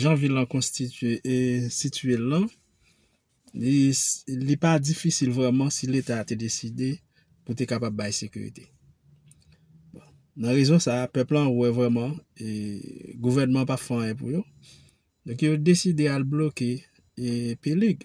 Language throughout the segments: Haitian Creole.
Jan vil lan konstitye e sitye l lan, li li pa difisil vrèman si leta te deside pou te kapab bay sekirite. Bon, nan rezon sa a, pèp lan wè vrèman e gouvènman an p ap fè anyen pou yo, donk yo deside al bloke e Pelig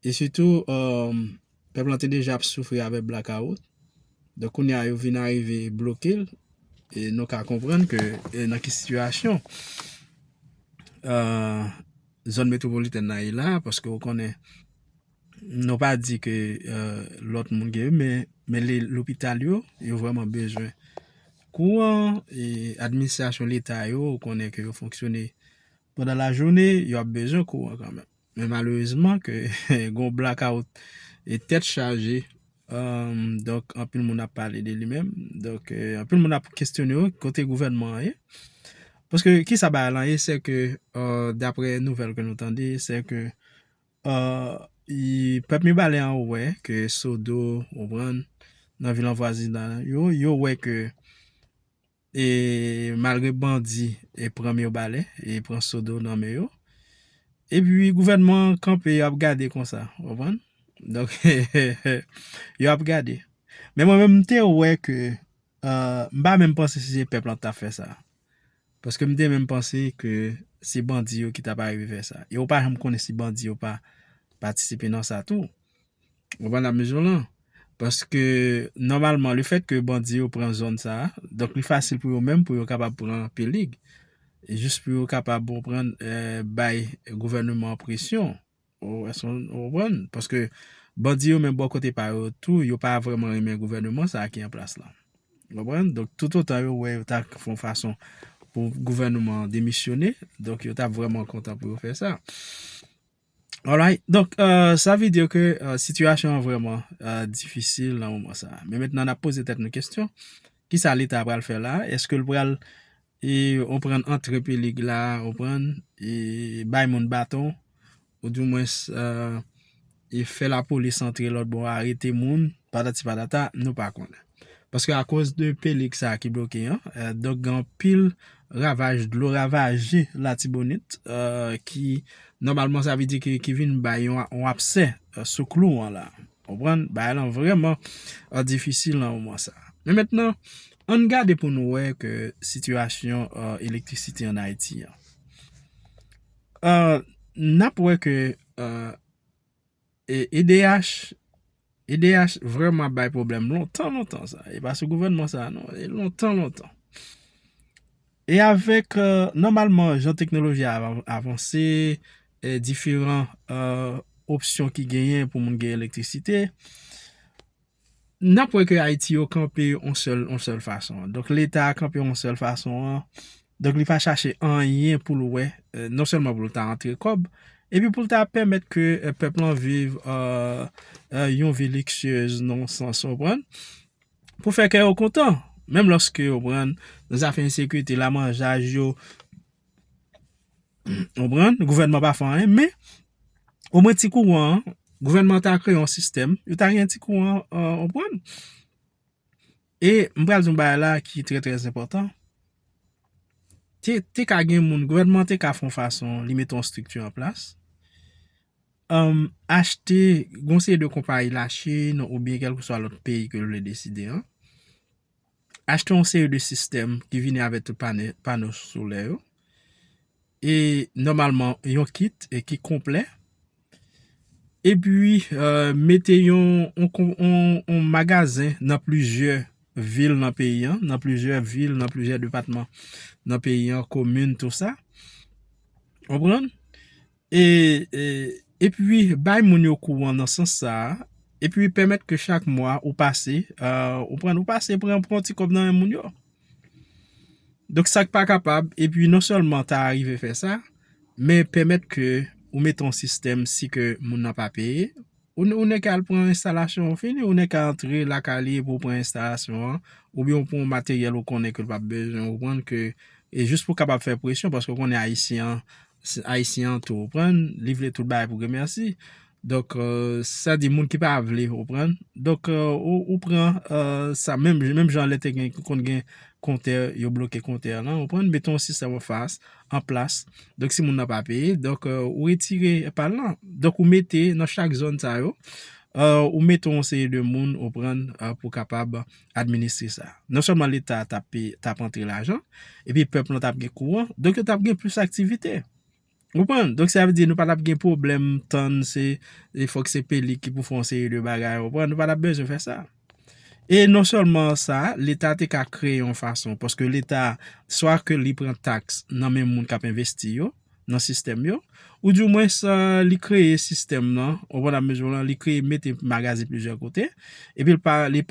E sitou pèp lan te deja ap soufri avèk blakawout, donk kounye a yo vin arive bloke l, e nou ka konprann ke nan ki sitiyasyon zòn metwopolitèn nan ye la, paske ou konnen nou pa di ke lòt moun gen, men lopital yo, yo vreman bezwen kouran, e administrasyon leta yo, ou konnen ke yo fonksyone pandan lajounen, yo ap bezwen kouran kanmenm. Men malerezman ke gon blackout e tèt chaje donk anpil moun ap pale de li menm donk anpil moun ap kestyone yo kote gouvènman an ye paske kisa bagay lan ye se ke dapre nouvèl ke nou tande se ke pèp mibalè an wè ke sodo ou pran nan vil anvwazinan yo yo wè ke E malgre bandi e pran myo bale e pran sodo nan men yo e pi gouvènman an kanpe yo ap gade konsa ou konprann donk yo ap gade men mwen menm m te wè ke m pa menm panse si se pèp lan ki tap fè sa paske m te menm panse ke se bandi yo ki tap arive fè sa e ou pa janm konnen si bandi yo pa patisipe nan sa tou. Ou pa la mezon lan. Paske nòmalman le fèt ke bandi yo pran zòn sa a, donk li fasil pou yo menm pou yo kapab pran Pelig. Jis pou yo kapab ou konprann bay gouvèneman an presyon. Ou èske ou konprann? Paske bandi yo menm bò kote pa yo tou, yo pa vrèman renmen gouvèneman sa a ki an plas la. Ou konprann? Donk toutotan yo wè yo ta fon fason pou gouvèneman an demisyone, donk yo ta vrèman kontan pou yo fè sa. Alright, donk sa vle di ke sitiyasyon an vrèman difisil nan moman sa a. Men mentnan n ap poze tèt nou kesyon, ki sa Leta pral fè la a? Eske l pral anprann antre pelig la a, anprann bay moun baton, ou di mwens fè lapolis antre lòtbò a, arete moun, patati patata, nou pa konnen. Paske a koz de pelig sa ki bloke an, donk gen anpil ravaj dlo ravaje latibonit ki nòmalman sa vle di ki vin bay yon apse sou klou an la. Ou konprann? Bagay lan vrèman difisil nan moman sa. Men mentnan, ann gade pou nou wè ke sitiyasyon elektrisite an Ayiti an. N ap wè ke. E edh edh vrèman ap bay pwoblèm lontan lontan sa e pa sou gouvènman sa non e lontan lontan e avèk nòmalman jan teknoloji a avanse e diferan opsyon ki genyen pou moun gen elektrisite N ap wè ke Ayiti yo kanpe yon sèl, yon sèl fason. Donk Leta a kanpe yon sèl fason an, donk li pa chache anyen pou l wè, non sèlman pou l ta antre kòb, epi pou l ta pèmèt ke pèp lan viv yon vi liksyez nan yon sans, ou konprann, pou fè kè yo kontan. Menm lòske, ou konprann, nan zafè ensekirite, lamanjaj yo. Ou pran, gouvènman pa fè anyen, men, ou mwen ti kouran an, gouvènman ta kreye yon sistèm, yo ta gen ti kouran an, ou pran. E, m pral di yon bagay la ki trè trè zèpotan, te ka gen moun, gouvènman te ka fon fason, li mete yon strikti an plas, achte, gonseye de konpayi la Chine, ou byen kèlke swa lòt peyi ke l vle deside an, Achte yon seri de sistèm ki vini avèk tout pano solè yo. E nòmalman yon kit e ki konplè. E pi mete yon magazen nan plizyè vil nan peyi an. Nan plizyè vil, nan plizyè depatman nan peyi an, komin, tout sa. Konprann? E, e, epi bay moun yo kouran nan sans sa a, epi pèmèt ke chak mwa ou pase, a, ou konprann, ou pase pran, pran yon ti kòb nan men moun yo. Donk sa k pa kapab, epi non sèlman ta arive fè sa, men pèmèt ke ou mete yon sistèm si ke moun nan pa peye, Ou nèk al pran enstalasyon ou fini, ou nèk a antre lakay li epi ou pran enstalasyon an, oubyen ou pran yon materyèl ou konnen ke l pap bezwen ou konprann ke, e jis pou kapab fè presyon paske ou konnen ayisyen an, ayisyen an tou ou konprann, li vle tout bagay pou gen mèsi, donk sa di moun ki pa vle ou konprann, donk ou pran sa menm jan lè te gen konn gen kontè yo bloke kontè lan ou konprann, meton yon sistèm anfas an plas. Donk si moun nan pa peye, donk ou retire pal lan. Donk ou mete nan chak zòn sa yo, ou mete yon seri de moun ou pran pou kapab administre sa. Non sèlman leta t ap antre lajan, epi pèp lan t ap gen kouran, donk yo t ap gen plis aktivite. Ou konprann? Donk sa vle di nou pa t ap gen pwoblèm tann se fòk se peli ki pou fè yon seri de bagay, ou konprann? Nou pa t ap bezwen fè sa. E non sèlman sa, leta te ka kreye yon fason, paske leta swa ke li pran taks nan men moun k ap envesti yo, nan sistèm yo, ou di mwen sa li kreye sistèm nan, ou konn ap mezon lan, li kreye mete magaze plizyè kote, epi li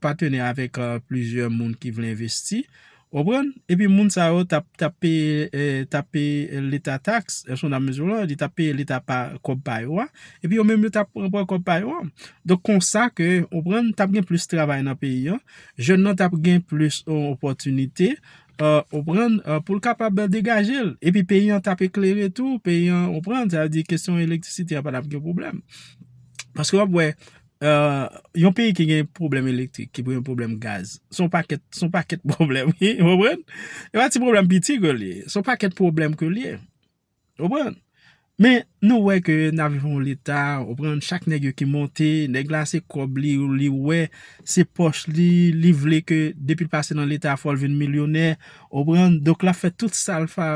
patene avèk plizyè moun ki vle envesti. Konprann? Epi moun sa yo tap tap peye tap peye leta tax, eske nou ta mezire lan, li tap peye leta pa kòb pa yo a, epi yo menm yo tap pran pran kòb pa yo an. Donk konsa ke ou prann tap gen plis travay nan peyi an, jèn nan tap gen plis opòtinite ou prann pou l kapab degaje l. Epi peyi an tap eklere tou, peyi an ou prann, sa vle di kesyon elektrisite a pa tap gen pwoblèm. Paske wap wè Yon peyi ki gen pwoblèm elektrik, ki pou yon pwoblèm gaz, son pakèt, son pakèt pwoblèm, he, ou konprann? E pa ti pwoblèm piti ke li ye, son pakèt pwoblèm ke li ye, ou konprann? Men, nou wè ke nan viv yon leta, ou konprann, chak nèg yo ki monte, nèg la se kòb li, li wè, se pòch li, li vle ke depi l pase nan leta fò l vin milyonè, ou konprann, donk l ap fè tout sa l fè,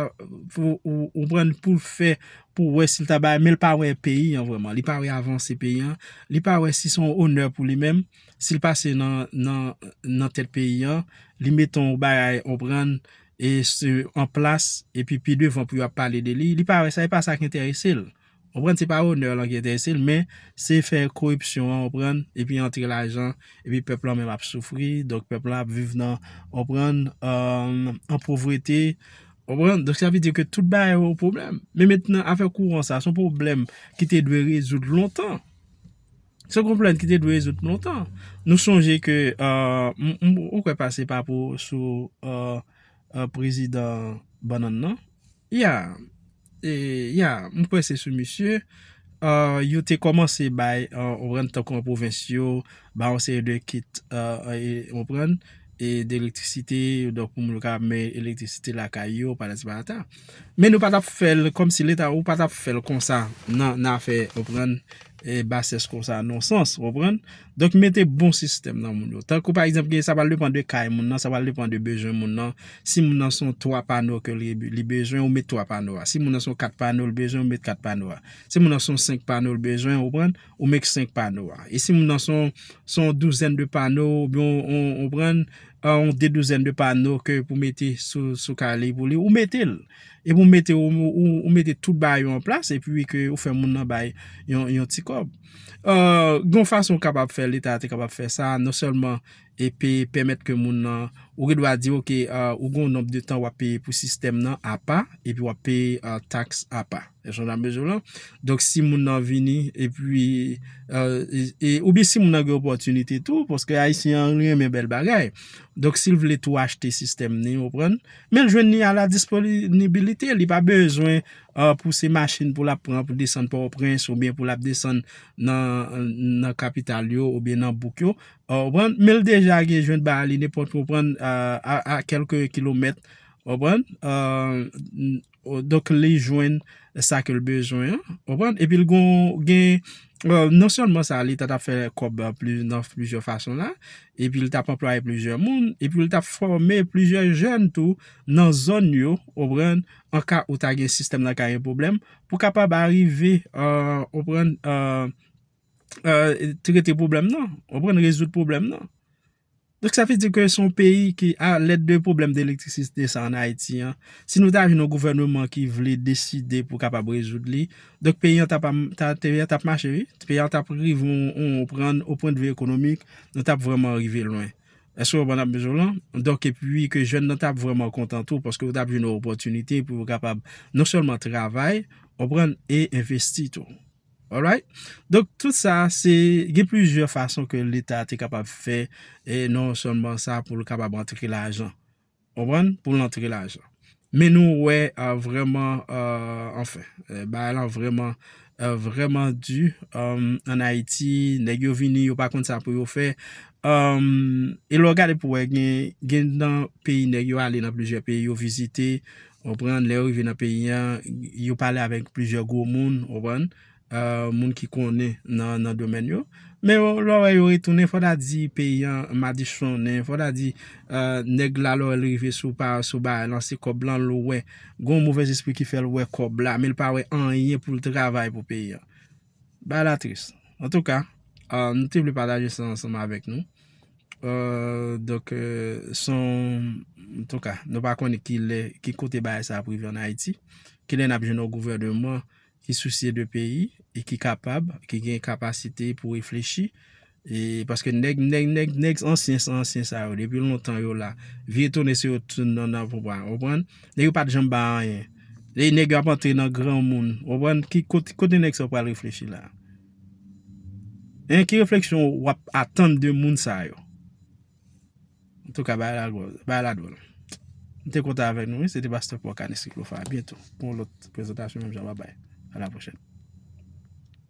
ou konprann, pou l fè pou wè si l ta bay men l pa wè peyi an vrèman, li pa wè avanse peyi an, li pa wè si se yon onè pou li menm, si l pase nan tèt peyi an, li mete yon bagay onprann e an plas epi pi devan pou yo ap pale de li, li pa wè sa, e pa sa ki enterese l. Onprann, se pa onè lan ki enterese l, men se fè koripsyon an onprann, epi antre lajan, epi pèp lan menm ap soufri, donk pèp lan ap viv nan onprann, an povrete. Ou konprann? Donk sa vle di ke tout bagay yo pwoblèm. Men mentnan afè kouran sa, son pwoblèm ki te dwe rezoud lontan. Son pwoblèm ki te dwe rezoud lontan. Nou sonje ke, ou kwè pase pa pou sou prezidan bannann nan? Ya, ya, m kwè se sou misye. Yo te kòmanse bay, ou konprann, tankou an pwovens yo. ba yon seri de kit ou konprann e de elektrisite donk pou moun yo ka men elektrisite lakay yo patati patata men nou pa tap fèl kòmsi leta ou pa tap fèl konsa nan afè ou konprann e basès konsa non sans ou konprann donk mete bon sistèm nan moun yo tankou pa egzanp gen sa pral depan de kay moun nan sa pral depan de bezwen moun nan si moun nan son 3 pano ke li bezwen ou met 3 pano a si moun nan son 4 pano li bezwen ou met 4 pano a si moun nan son 5 pano li bezwen ou konprann. Ou make 5 pano a. E si moun nan son yon douzèn de pano, ou byen ou pran yon de douzèn de pano ke pou mete sou kay li pou li, ou mete l. E pou mete ou mete tout ba yo an plas, e pi ke ou fè moun nan bay yon ti kòb. Gon fason ou kapab fè, leta te kapab fè sa, non sèlman. epi pèmèt ke moun nan, ou gen dwa di ok ou gen yon nonb de tan wap peye pou sistèm nan apa, epi wap peye taks apa. Èske nou nan mezi la? Donk si moun nan vini epi, oubyen si moun nan gen opòtinite tou, paske ayisyen an renmen bèl bagay, donk sil vle tou achte sistèm ni, ou pran, men l jwenn ni a la disponibilite, li pa bezwen pou se machin pou lap pran pou desann pò o prens, oubyen pou lap desann nan kapital yo, oubyen nan bouk yo, Ou konprann? Men l deja gen jwent ba li nenpòt ou konprann a kèlke kilomèt. Ou konprann? Donk li jwenn sa ke l bezwen an. Ou konprann? Epi l gen non sèlman sa li ta tap fè kòb nan plizyè fason la. Epi l tap anplwaye plizyè moun. Epi l tap fòme plizyè jèn tou nan zòn yo. Ou konprann? An ka ou ta gen sistèm nan ka gen pwoblèm. Pou kapab arive ou konprann trete pwoblèm nan, ou konprann, rezoud pwoblèm nan. Donk sa vle di ke son peyi ki a lèt de pwoblèm de elektrisite sa an Ayiti an, si nou ta jwenn yon gouvèneman ki vle deside pou kapab rezoud li, donk peyi an tap mache wi, peyi an tap rive yon prann yon pwen de vi ekonomik, nou tap vreman rive lwen. Eske ou konprann sa map di w lan? Donk e pi ke jèn nan tap vreman kontan tou, paske yo tap jwenn yon opòtinite pou yo kapab non sèlman travay, ou konprann, e envesti tou. Alright, donk tout sa se gen plizyè fason ke leta te kapab fè e non sèlman sa pou l kapab antre lajan. Konprann? Pou l antre lajan. Men nou wè vreman, anfen, bagay lan vreman, vreman di an Ayiti. Nèg yo vini, yo pa konn sa pou yo fè. E lè w gade pou wè gen nan peyi nèg yo ale nan plizyè peyi yo vizite. Ou konprann? Lè yo rive nan peyi an, yo pale avèk plizyè gwo moun, ou konprann, moun ki konnen nan domèn yo. Men yo, lè w wè yo retounen, fò ta di peyi an madichonnen, fò ta di nèg la lè li rive sou pa, sou ba lan se kòb lan l wè. Gon mouvèzespri ki fè l wè kòb la, men l pa wè anyen pou l travay pou peyi an. Bagay la tris. Antouka, nou te vle pataje sa ansanm avèk nou. Donk, son, antouka, nou pa konnen ki lè, ki kote bagay sa ap rive an Ayiti. Ki lè n ap jwenn yon gouvèneman ki sousye de peyi e ki kapab, ki gen kapasite pou reflechi. E paske nèg nèg nèg nèg ansyen san ansyen sa yo depi lontan yo la. Vye tone se yo tout nan nan pou pa. Ou konprann? Nèg yo pat janm bay anyen. Lè nèg yo ap antre nan granmoun. Ou konprann? Ki kot kote nèg sa yo pral reflechi la? Hein ki refleksyon ou ap atann de moun sa yo? Antouka bagay la dwòl bagay la dwòl. M te kontan avèk nou wi se te pastè Paul Canis Cyclopha a byentou pou yon lòt prezantasyon menm jan babay a la pwochèn.